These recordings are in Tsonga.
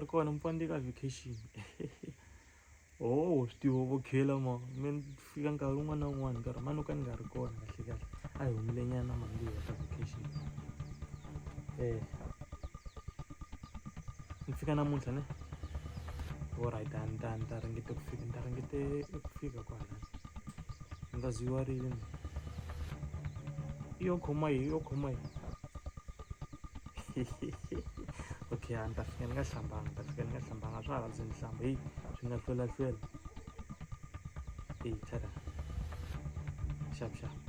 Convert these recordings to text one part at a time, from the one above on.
kona mupande ka vacation oh swi tivo vokhela ma me ni fika nkarhi wun'wana na wun'wana nkarhi mani ka ni nga ri kona kahle kahle a hi humile nyana mali ya ka vacation eh ni fika namuntlha ne orit a ni ta ni ta ringete ku fika ni ta ringete ku fika kwalani nga zwi wa rini yo khoma yi yo khoma yi okay a ni ta fika ni nga hlambanga ni ta fika ni nga hlambanga swa ha lavi se ni hlamba heyi swi nga hlwelahlwela heyi tada xavxava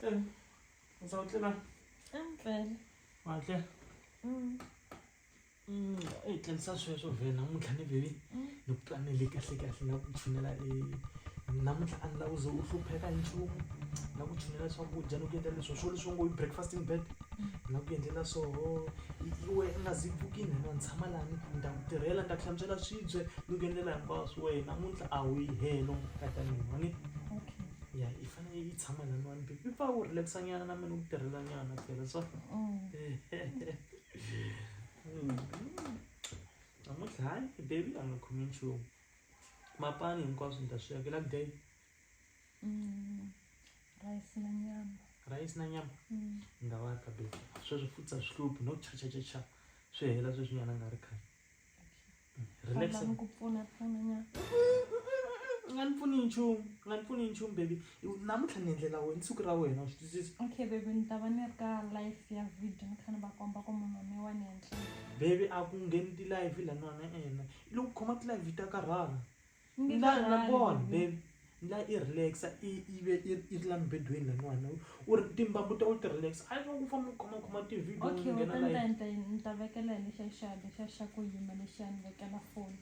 Teng. O sa utlwe na? Teng fela. Wa utlwe? Mm. Mm, e tleng sa sweswo vhe namuntlha ni vhe mm. ni ku twanele kahle kahle na ku tshinela e namuntlha a ni lava uze u hlupheka nchumu na ku tshinela swakudya ni ku endla leswo swo leswi ngo breakfasting bed mm. na ku endlela swoho iwe i nga zi pfukini hina ni tshama lani ni ta ku tirhela ni ta ku hlantswela swibye ni ku endlela hinkwaswo wehe namuntlha a wu yi helo ka ta mina ni ya yi fanele yi tshama na mani mbilu yi pfa wu relaxa nyana na mina u tirhela nyana phela so namuntlha hayi baby a nga khomi nchumu mapani hinkwaswo ni ta swi yakela day rice na nyama rhayisi na nyama Mm. ni nga va ka baby sweswi futhi a swi hluphi no chachachacha swi hela sweswi nyana a nga ri khale Relax. Lava ku pfuna pfuna nyana. U nga ni pfuni nchumu, u nga ni pfuni nchumu baby. Namuntlha ni endlela wena siku ra wena, u swi twisisa? Okay baby ni ta va ni ri ka live ya video ni kha ni va komba ku munhu wa mina wa ni endlela. Baby a ku ngheni ti-live laniwani e-e, loko u khoma ti-live ta karhala. Ni nga na rali, born baby. babe ni la i relaxa i i ve i i la mbedweni la n'wana u ri timbambu ta u ti relaxa a va ku famba khomakhoma ti-video okay u nghena ta ni ta live. ni ta yini ni ta vekela hi lexiya xa lexiya xa ku yima lexiya ni vekela foni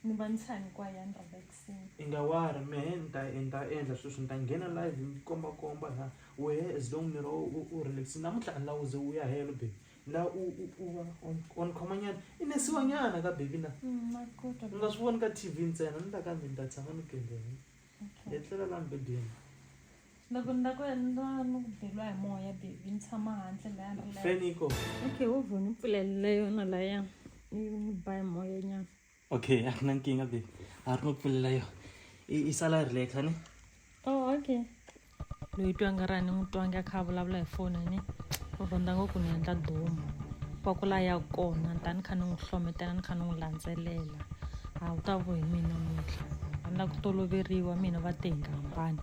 ni va ni tshami kwaya ni relax-ini i nga wari mehe ni ta ni ta endla sweswo ni ta nghena live ni kombakomba la wehe as long ni ri u u relax-ini namuntlha a ni la u ze u ya helo babe la u u u va on- on khomanyana i nesiwanyana ka baby na Mm, na kota. u nga swi voni ka tv ntsena ni ta ka ndzi ni ta tshama ni gembeni Okay. hi tlela la mbedeni Loko ni la ku endla ni ku beriwa hi moya baby ni tshama handle laya ni laya. feni yi kona Okay, wo vhoni pfulelele yona laya ni ni ba hi moya nyana. okay akunankinga be a ri no pfulela yo i sala ri leta ni o oh, okay loyi twanga ra ni n'wi twangi a kha a vulavula hi foni ni u rhandza ngopfu ni endla domu va ku la ya kona ni ta ni kha ni n'wi hlometela ni kha ni n'wi landzelela a wu ta vo hi mina muntlha a ni la ku toloveriwa mina va te hi nga hambani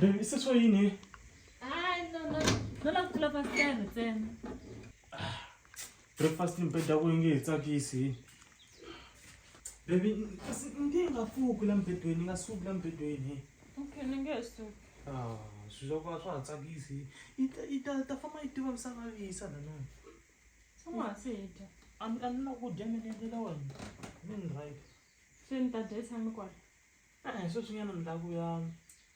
Babe, i seso yini? Hayi, no, no. No lava ku lava fere ntsena. Breakfast ni beda ku nge tsakisi. Baby, kasi ndi nga fuki la mbedweni, nga suki la mbedweni. Okay, ni nge suki. Ah, swilo swa swa tsakisi. Ita ita ta famba yi tiva misava lisa na nani. tshama hansi hi dya a ni a ni la ku dya mi ni endlela wena mi ni right se ni ta dya yi tshame kwala e-e sweswinyana ni la ku ya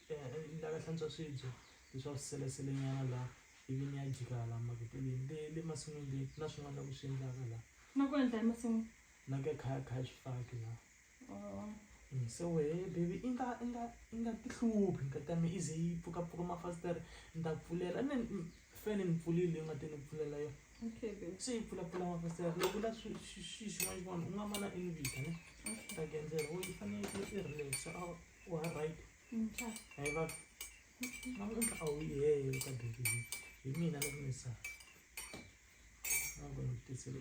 eh, ni la ka hlantswa swibye leswaku swi seleselenyana la ivi ni ya jika hala maketeleni le le masin'wini le na swin'wana la ku swi endlaka la na ku endla emasin'wini na ke khaya khaya swifaki la se wehe baby i nga i nga i nga ti hluphi nkati ya me i ze yi pfukapfuka mafasitere ni ta pfulela ni fane ni pfulile yi nga ti ni pfulela yona se yi pfulapfula mafasitere loko la xi xin'wana xin'wana u nga ma na invita ne ta genzela wo yi fanele yi i relax a wa right hayi va namuntlha a wu yi heye ka baby hi mina loko ni sa a ku ni tisele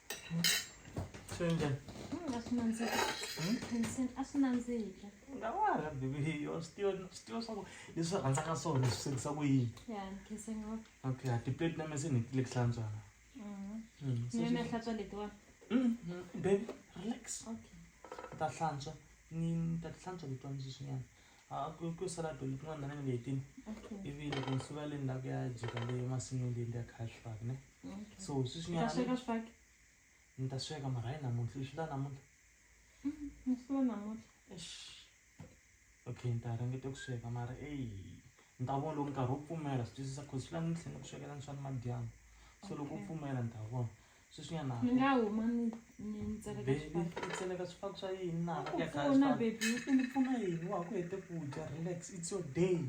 swi njhani a swi nandzika pension a swi nandzika nga wa ha rhandzi viyo swi tiva swi tiva swa ku leswi rhandzaka swona swi swekisa ku yini ya khense ngopfu okay a tiplate na mese ni tile ku hlantswana ni yona hlantswa letiwani baby relax okay ni ta hlantswa ni ni ta ti hlantswa letiwani sweswinyana Ah, ku ku sala pele ku nga ndana ni leti. Okay. Ivi loko ni suka le ni lava ku ya jika le masin'wini leyi ni ya kha swifaki ne. Okay. So swi swi Ka nyana sweka swifaki. ni ta sweka mara hi namuntlha swi la namuntlha. Musuwa namuntlha. Eish. Okay ni ta ringeta ku sweka mara eyi ni ta vona loko nkarhi wu pfumela swi twisisa cause swi la ni tlhela ni ku swekela ni swa nimadyambu. So loko wu Okay. pfumela ni ta vona. sweswinyana ni nga huma ni ni ni tseleka bebi swifaki u tseleka swifaki swa yini na Ku ya khaya pfuna, swifaki. baby. u ni pfuna yini wa ha ku hete ku dya relax it's your day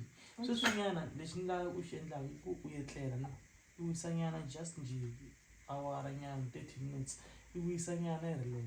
sweswinyana lexi ni la u xi endlaka i ku u etlela na i wisanyana just njhe awara nyana thirty minutes i wisanyana i relax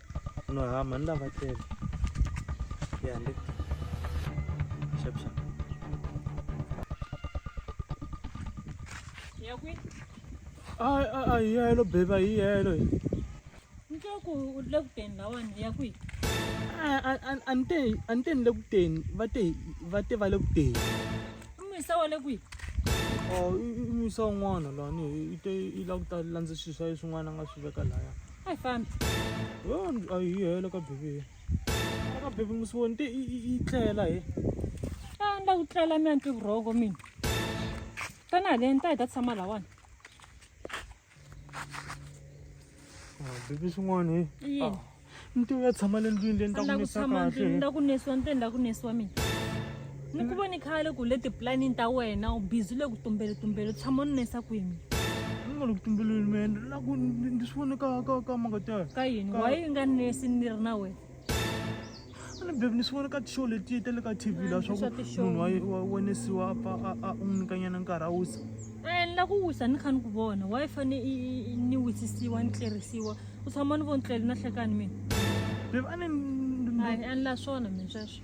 No, ha mhani lava tele ya le xap xap ya kwi ai ai ai yelo beba hi yelo hi nto ku u le ku teni lawani ya kwi ante ante ni le ku teni va te va te va le ku teni i muyisa wa le kwi o i muyisa un'wana lani i te i la ku ta landza swilo swa ye swin'wana a nga swi veka laya a hi fambi a yi hela ka bebeni ka bebi musivoni te yi tlela he a ni la ku tlela mi ya ni twi vurhoko mina tana haleni ta hi ta tshama lawani bebi swin'wana he yini ni ti u ya tshama le ndlwini leyi ni ta ku nisa kahle ni ta ku nisiwa ni te ni ta ku nisiwa mina ni ku voni khale ku le tipulanini ta wena u bizi le ku tumbeletumbele u tshama u ninesa kwini nga le ku tumbeleni man la ku ndzi swi vone ka ka ka mangatana ka yini wa yi nga ninesi ni ri na wena ni bebi ni swi vone ka tishow letiye ta le ka tv la swa ku munhu wa wenesiwa a u n'wi nyikanyana nkarhi a wisa ni la ku wisa ni kha ni ku vona wa yi fane ni wisisiwa ni tlerisiwa u tshama ni voni tlele na hlekani mina bebi a ni a ni la swona mina sweswo